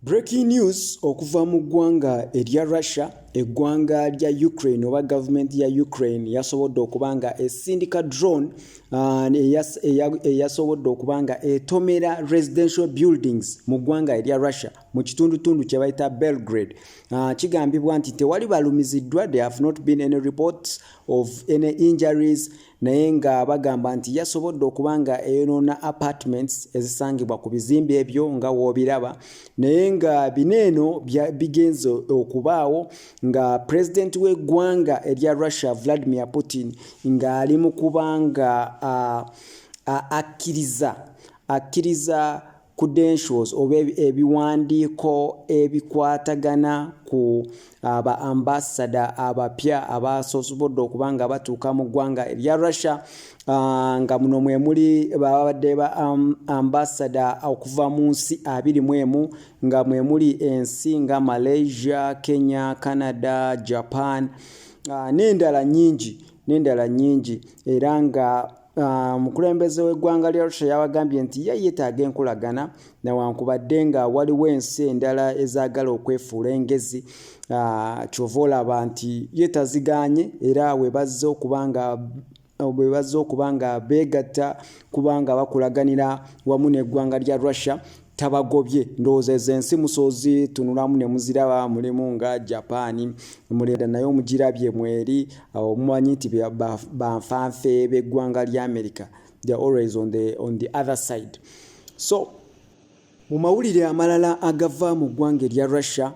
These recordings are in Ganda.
Breaking news okuva mu ggwanga erya Russia eggwanga lya Ukraine oba gavumenti ya Ukraine yasobodde okuba nga esindika drone uh, eyasobodde okuba nga etomera residential buildings mu ggwanga erya Russia mu kitundutundu kye bayita Belgrade uh, kigambibwa nti tewali balumiziddwa they have not been any reports of any injuries naye nga bagamba nti yasobodde okuba nga eyonoona apartments ezisangibwa ku bizimbe ebyo nga woobiraba naye nga bino eno bigenze okubaawo nga pulezidenti w'eggwanga erya russia vladimir putin ng'ali mu kubanga akkiriza akkiriza credentials oba ebiwandiiko ebikwatagana ku ah, ba ambasada abapya abasosobodde okuba nga batuuka mu ggwanga erya russia ah, nga muno mwe muli babadde ba ambasada okuva mu nsi abiri mu emu nga mwe muli ensi nga malaysia kenya canada japan ah, n'endala nyingi n'endala nyingi era nga Ah, omukulembeze w'eggwanga lya russia yawagambye nti ye yeetaaga enkolagana newankubadde nga waliwo ensi endala ezaagala okwefuula engezi ah, kyova olaba nti ye taziganye era webazze okuba nga bwe bazze okuba nga beegatta kubanga bakulaganira wamu n'eggwanga lya russia tabagobye ndowooza ezo ensi musozi tunulamu ne muziraba mulimu nga japan muleda naye omugirabye mweri omumanyi nti banfanfe b'eggwanga lya america the always on the, on the other side so mu mawulire amalala agava mu ggwanga erya russia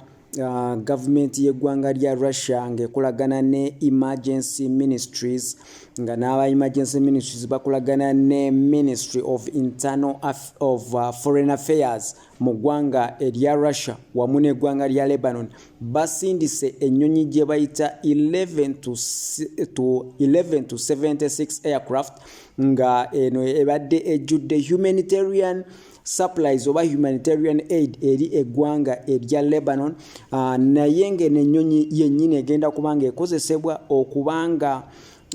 gavumenti y'eggwanga lya Russia ng'ekolagana ne Emergency Ministries nga n'aba Emergency Ministries bakolagana ne Ministry of Internal Aff of uh, Foreign Affairs mu ggwanga erya Russia wamu n'eggwanga lya Lebanon basindise ennyonyi gye bayita 11 to 11 to 76 aircraft nga eno ebadde ejjudde humanitarian supplies oba humanitarian aid eri eggwanga erya lebanon uh, naye ngeno ennyonyi yennyini egenda kubanga ekozesebwa okubanga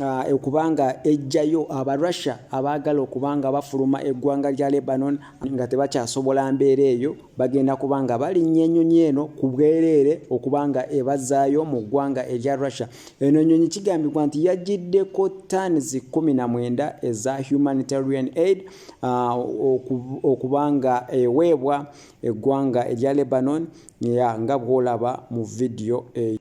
ah, okubanga uh, ejjayo abarussia abaagala okubanga bafuluma eggwanga lya lebanon nga tebakyasobola mbeera eyo bagenda kubanga balinnya ennyonyi eno ku bwereere okubanga ebazaayo mu ggwanga erya russia eno ennyonyi kigambibwa nti yajjiddeko tans 19 eza humanitarian aid uh, okuba nga eweebwa eggwanga erya lebanon ya nga bwolaba mu vidiyo eyo